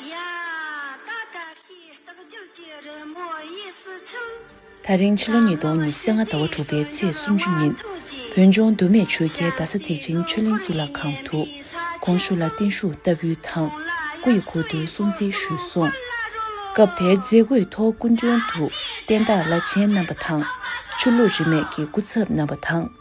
ཡ། ད་བཀྲ་ཤིས་རྟགས་བརྒྱུད་ཀྱི་རི་མོ་དབྱི་སི་ཆུ། ད་རིང་ཕྱི་ལོ་ཉིས་སྟོང་ཉི་ཤུ་ལྔ་ཟླ་བ་དྲུག་པའི་ཚེས་སུམ་ཅུ་ཉིན། བོད་ལྗོངས་མདོ་སྨད་ཆོལ་ཁའི་རྡ་ས་ཐེག་ཆེན་ཆོས་གླིང་གཙུག་ལག་ཁང་དུ། གོང་ཞུ་ལ་བརྟན་བཞུགས་བསྟར་འབུལ་དང་སྐུ་ཡི་གོ་བསྡུར་སྲུང་བརྩི་ཞུས་སོང། སྐབས་དེར་མཛད་སྒོའི་ཐོག་སྐུ་མགྲོན་དུ་བསྟན་བདག་བླ་ཆེན་རྣམ་པ་དང། ཆོས་ལུགས་རིས་མེད་ཀྱི་སྐུ་ཚབ་རྣམ་པ་དང།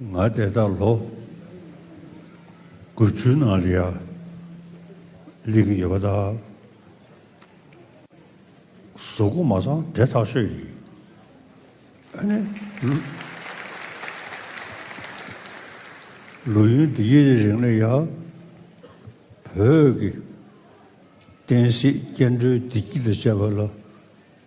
ང་དེ་དག་ལོ་དགུ་བཅུའི་ནང་ལ་ཡར་ལེན་གྱི་ཡོད་པ་དང། བཟོ་བཀོད་མ་ཚང་དེ་ཐག་ཆོད་ཡིན། ཨ་ནི། ལོ་ཡུན་འདི་ཡི་རིང་ལ་ཡང་བོད་ཀྱི་བསྟན་སྲིད་སྐྱེ་འགྲོའི་བདེ་སྐྱིད་དང་བཅས་པ་ལ།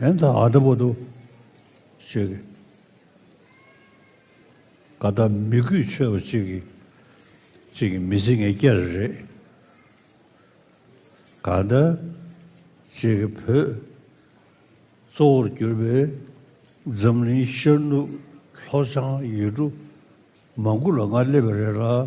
ཡང་ད་ཨ་ད་པོ་ཏོ་ཞེས་གི། ག་ད་མི་གུས་ཆོས་པ་ཅིག་གིས་ཅིག་གིས་མི་ཚིག་ངས་སྐྱ་རེ་རེད། ག་ད་ཅེས་གི་བོད་གཙོ་བོར་གྱུར་པའི་འཛམ་གླིང་ཤར་ནུབ་ལྷོ་བྱང་ཡུལ་གྲུ་མང་དགུ་ལ་ང་སླེབས་པ་རེད་ལ།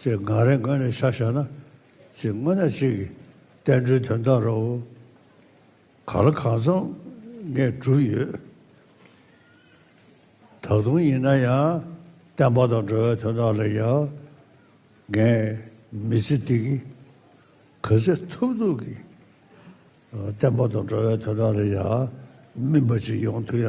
ཅེས་འགའ་རེ་འགའ་རེ་ཆ་བཞག་ན། ཅེས་དངོས་གནས་གཅིག་གིས་བསྟན་འགྲོའི་དོན་དག་རོ། ག་ལ་གང་འཚམ་ངས་གྲུབ་ཡོད། ད་དུང་ཡིན་ན་ཡང་བསྟན་པ་དང་འགྲོ་བའི་དོན་དག་ལ་ཡང་ངས་མི་ཚེ་འདི་གི་ག་ཚད་ཐུབ་ཐུབ་ཀྱིས་བསྟན་པ་དང་འགྲོ་བའི་དོན་དག་ལ་ཡང་སྨིན་པ་ཅིག་ཡོང་ཐུབ་ཡ།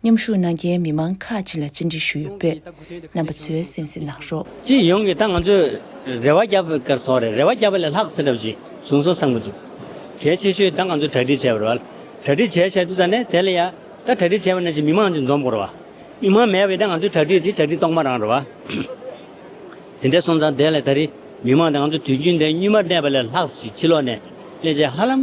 མཉམ་ཞུགས་གནང་མཁན་མི་མང་ཁག་ཅིག་ལ་བཅར་འདྲི་ཞུ་ཡོད་པས་རྣམ་པ་ཚོས་གསན་གཟིགས་གནང་རོགས། སྤྱི་ཡོངས་ཀྱི་ད་ང་ཚོས་རེ་བ་བརྒྱབ་པའི་སྐར་ཚོགས་རེད་རེ་བ་བརྒྱབ་པ་ལས་ལྷག་ཚེ་རབས་ཅིག་བྱུང་སོང་བསམ་གྱི་འདུག་གལ་ཆེ་ཤོས་ད་ང་ཚོས་གྲ་སྒྲིག་བྱས་པ་རེད་བ་ལ་གྲ་སྒྲིག་བྱས་བྱས་དུས་ད་ནས་དེ་ལ་ཡ་ད་གྲ་སྒྲིག་བྱས་པ་ནས་ཀྱི་མི་མང་ཅིག་འཛོམས་དགོས་རེད་བ་མི་མང་མེད་པའི་ད་ང་ཚོའི་གྲ་སྒྲིག་དེ་གྲ་སྒྲིག་གཏོང་མ་རང་རེད་བ། དེ་འདྲས་སོང་ཙང་དེ་ལས་ད་རེས་མི་མང་ད་ང་ཚོ་དུས་རྒྱུན་དེ་གཉུས་མར་གནས་པ་ལས་ལྷག་ཅིག་ཕྱི་ལོགས་ནས་གནས་བྱས་ཧ་ལམ།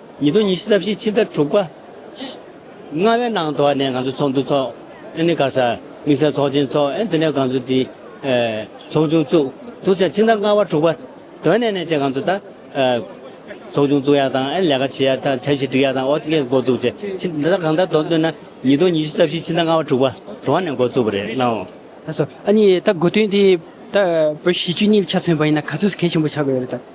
ཉིས་སྟོང་ཉི་ཤུ་རྩ་བཞི་ཕྱི་ཟླ་དྲུག་པ་ལྔ་བའི་ནང་དུ་ནས་ང་ཚོ་ཚོགས་འདུ་འཚོགས། ཨན་ནི་ག་ས་དམིགས་བསལ་ཚོགས་ཆེན་འཚོགས་ཨན་དེ་ནས་ང་ཚོ་དེ་ཚོགས་ཆུང་བཙུགས་འདུག་ཕྱི་ཟླ་ལྔ་བ་དྲུག་པ་དོན་ནས་ནས་བཅས་ང་ཚོ་ད་ཚོགས་ཆུང་བཙུགས་ཡག་དང་ཨན་ལས་ཀ་བྱེད་ཡག་དང་འཆར་གཞི་སྒྲིག་ཡག་དང་ཨོ་ཐི་ཀས་འགོ་བཙུགས་བྱས་ཕྱི་ཟླ་གང་ད་དོན་དོན་ན་ཉིས་སྟོང་ཉི་ཤུ་རྩ་བཞི་ཕྱི་ཟླ་ལྔ་བ་དྲུག་པ་དོན་ནས་འགོ་བཙུགས་པ་རེད་ལོ། ཨ་ཟོ། ཨ་ནི་ད་དགོས་དོན་དེ་ད་བོད་གཞིས་བཅུ་གཉིས་ལ་ཆ་མཚོན་པ་ཡིན་ན་ག་ཚོད་གལ་ཆེན་པོ་ཆགས་དགོས་ཡོད་རེད་ད།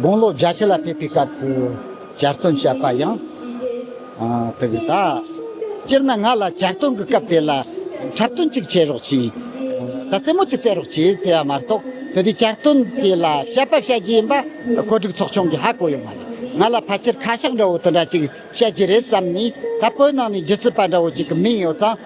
དགུང་ལོ་བརྒྱ་ཆ་ལ་ཕེབས་པའི་སྐབས་སུ་གྱ་སྟོན་བྱས་པ་ཡང་དེ་རེད་ད། སྤྱིར་ན་ང་ལ་གྱ་སྟོན་གྱི་སྐབས་དེ་ལ་འཁྲབ་སྟོན་གཅིག་བྱེད་རོགས་གྱིས། ད་རྩེད་མོ་གཅིག་བཙལ་རོགས་གྱིས་ཟེར་བ་མ་གཏོགས་དེ་དུས་གྱ་སྟོན་དེ་ལ་བཤད་པ་བཤད་རྒྱུ་ཡིན་པ་གོ་སྒྲིག་ཚོགས་ཆུང་གིས་ཧ་གོ་ཡོད་མ་རེད། ང་ལ་ཕལ་ཆེར་ཁ་ཤགས་འདྲ་བོ་དེ་འདྲ་གཅིག་བཤད་རྒྱུ་རེད་བསམ་ནས་ད་བོད་ནང་ནས་རྒྱུ་རྩིས་པ་འདྲ་བོ་གཅིག་གི་མིང་ཡོད་ཙང་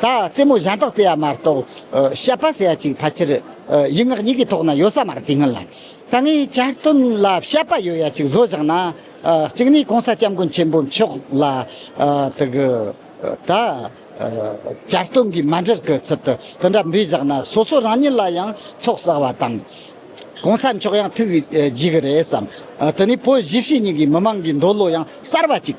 ད་རྩེད་མོ་གཞན་དག་རྩེ་བ་མ་གཏོགས་བཤད་པ་ཟེར་བ་ཅིག་ཕལ་ཆེར་ཡིག་ངག་གཉིས་ཀྱི་ཐོག་ན་ཡོད་ས་མ་རེད་དེ་སྔོན་ལ་ད་ངས་བསྐྱར་བཏོན་ལ་བཤད་པ་ཡོད་ཡ་ཅིག་བཟོ་བཞག་ན། གཅིག་ནས་གོང་ས་སྐྱབས་མགོན་ཆེན་པོ་མཆོག་ལ་དེ་གུ་ད་བསྐྱར་བཏོན་གྱི་མ་འབྲེལ་གྱི་ཚུལ་དུ་དེ་འདྲ་འབུལ་བཞག་ན་སོ་སོ་རང་ཉིད་ལ་ཡང་ཚོགས་བསགས་བ་དང། གོང་ས་མཆོག་ཡང་ཐུགས་རྒྱུས་ཀྱི་རེད་བསམ། དེ་ནས་བོད་བཞི་བྱེས་གཉིས་ཀྱི་མི་མང་གི་འདོད་བློ་ཡང་གསར་བ་ཅིག།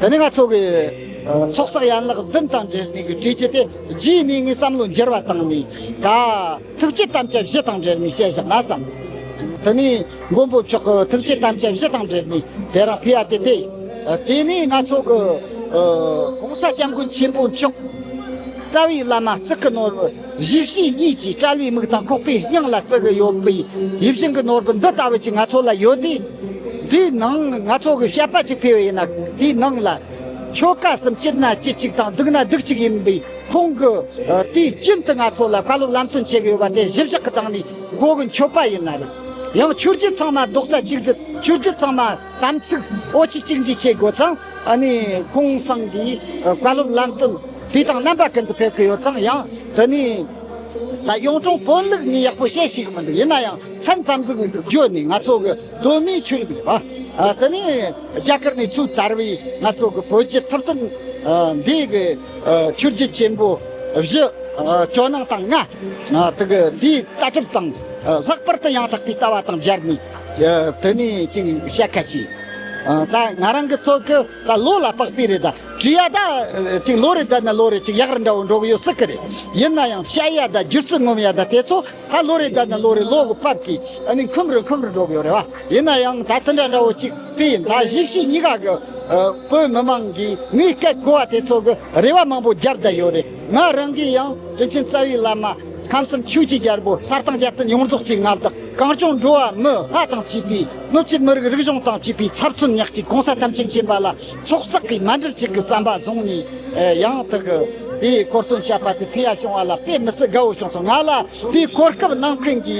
དེ་ནས་ང་ཚོ་གི་ཚོགས་བསགས་ཡན་ལག་བདུན་དང་འབྲེལ་ནས་བྲིས་རྗེས་དེ་རྗེས་གནས་ངས་བསམ་བློ་འགྱུར་བ་བཏང་ནས་ད་ཐུགས་བསྐྱེད་དམ་བཅའ་བཞི་དང་འབྲེལ་ནས་བཤད་བཞག་ན་བསམ། དེ་ནས་མགོན་པོ་མཆོག་གི་ཐུགས་བསྐྱེད་དམ་བཅའ་བཞི་དང་འབྲེལ་ནས་དེ་རང་ཕུལ་བ་དེ་སྟེ། དེ་ནས་ང་ཚོ་གི ྋགོང་ས་སྐྱབས་མགོན་ཆེན་པོ་མཆོག་རྩ་བའི་བླ་མ་གཙུག་གི་ནོར་བུ། གཞི་བྱེས་གཉིས་ཀྱིས་བཀྲ་བའི་མིག་དང་ཁོག་པའི་སྙིང་ལ་བརྩེ་བ་ཡོད་པའི་ཡིད་བཞིན་གྱི་ནོར་བུ་འདི་ལྟ་བུ་ཅིག་ང་ཚོ་ལ་ཡོད་དེ། དེའི་ནང་ང་ཚོ་གིས་དཔྱད་པ་ཅིག་ཕུལ་བས་ན་དེའི་ནང་ལ། ཆོལ་ཁ་གསུམ་སྐྱིད་ན་སྐྱིད་ཅིག་དང་སྡུག་ན་སྡུག་ཅིག་ཡིན་པའི་ཁོང་གི་དུས་རྒྱུན་དུ་ང་ཚོ་ལ་བཀའ་སློབ་ལམ་སྟོན་བྱེད་ཀྱི་ཡོད་པ་དེ་གཞི་བཞག་གི་སྟེང་ནས་གོ་གི་མཆོད་པ་ཡིན་ན་རེད། ཡང་ཆོས་རྒྱུད་ཚང་མ་རྡོག་རྩ་གཅིག་སྒྲིལ་ཆོས་རྒྱུད་ཚང་མ་དམ་ཚིག་ཨོ་ཆི་གཅིག་འདྲིས་བྱེད་དགོས་ཙང། ཨ་ནི་ཁོང་སང་གི་བཀའ་སློབ་ལམ་སྟོན་དུས་དང་རྣམ་པ་ཀུན་ཏུ་ཕེབས་ཀྱི་ཡོད་ཙང་ཡང་དེ་ནི་ད་གཡུང་དྲུང་བོན་ལུགས་གཉིས་ཡག་པོ་ཤེས་ཤེས་ཀྱི་མི་འདུག་ཡིན་ན་ཡང་མཚན་ཙམ་ཟིག་བརྗོད་ནས་ང་ཚོ་གི་གདོད་མའི་ཆོས་ལུགས་རེད་པ་དེ་ནི་རྒྱ་གར་ནས་ཚུར་དར་བའི་ང་ཚོ་གི་བོད་ཀྱི་ཐུབ་བསྟན་འདི་གི་ཆོས་བརྒྱུད་ཆེན་པོ་བཞི་ཇོ་ནང་དང་ལྔ་དག་འདིའི་ལྟ་གྲུབ་དང་ལྷག་པར་དུ་ཡང་དག་པའི་ལྟ་བ་དང་སྦྱར་ནས། དོན་མི་གཅིག་བཤད་ཁ་ཅིག་ད་ང་རང་གི་ཚོ་གི་ད་ལོ་ལ་དཔག་པའི་རེད་ད་བྲིས་ཡ་ད་ཅིག་ལོ་རེད་ད་ནི་ལོ་རེ་གཅིག་ཡག་རི་འདྲ་བོ་འགྲོ་གི་ཡོད་སྲིད་གི་རེད་ཡིན་ན་ཡང་བཤད་ཡ་ད་བསྒྱུར་ཚུལ་ངོམ་ཡ་ད་དེ་ཚོ་ད་ལོ་རེ་ད་ནི་ལོ་རེ་ལོ་གི་བབ་ཀྱིས་ཨ་ནི་འཁུམ་རི་འཁུམ་རི་འགྲོ་གི་ཡོད་རེད་བ་ཡིན་ན་ཡང་ད་དེ་འདྲ་འདྲ་བོ་གཅིག་པས་ཡིན་ད་བཞི་བཞི་གཉིས་ཀ་གི་བོད་མི་མང་གིས་ངའི་སྐད་གོ་བ་དེ་ཚོ་གི་རེ་བ་མང་པོ་རྒྱབ་བསྡད་ཡོད་རེད་ང་རང་གིས་ཡང་དྲིན་ཆེན་རྩ་བའི་བླ་མ་ཁམས་གསུམ་ཆོས་ཀྱི་རྒྱལ་པོ་གསར་ཐང་རྒྱལ་བསྟན་ཡོངས་རྫོགས་ཀྱི་མངའ་བདག། གངས་ལྗོངས་འགྲོ་བ་མི་ལྷ་དང་བཅས་པའི་སྣོད་བཅུད་མི་རིགས་རིག་གཞུང་དང་བཅས་པའི་ཚབ་མཚོན་ཉག་གཅིག་གོང་ས་ཐམས་ཅད་མཁྱེན་པ་ལ་ཚོགས་བསགས་ཀྱི་སྨད་དྲིལ་གཅིག་གི་བསམ་པ་བཟུང་ནས་ཡང་དག་པའི་གོ་སྟོན་བྱས་པ་དེ་ཕུལ་ཡ་བྱུང་བ་ལ་དཔེ་མི་སྲིད་དགའ་བོ་བྱུང་སོང་ང་ལ་དེའི་གོ་སྐབས་གནང་མཁན་གྱི་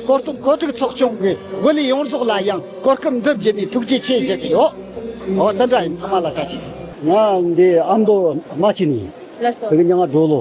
གོ་སྟོན་གོ་སྒྲིག་ཚོགས་ཆུང་གི་དབུ་ལས་ཡོངས་རྫོགས་ལ་ཡང་གོ་སྐབས་འདི་བརྒྱུད་ནས་ཐུགས་རྗེ་ཆེ་བཞེས་ཀྱི་ཡོད་འོ་དེ་འདྲ་ཡིན་ཚང་མ་ལ་བཀྲ་ཤིས། ང་འདི་ཨ་མདོ་རྨ་ཆེན་ནས་ཡིན། དེ་གི་ཉག་སྒྲོ་ལོ།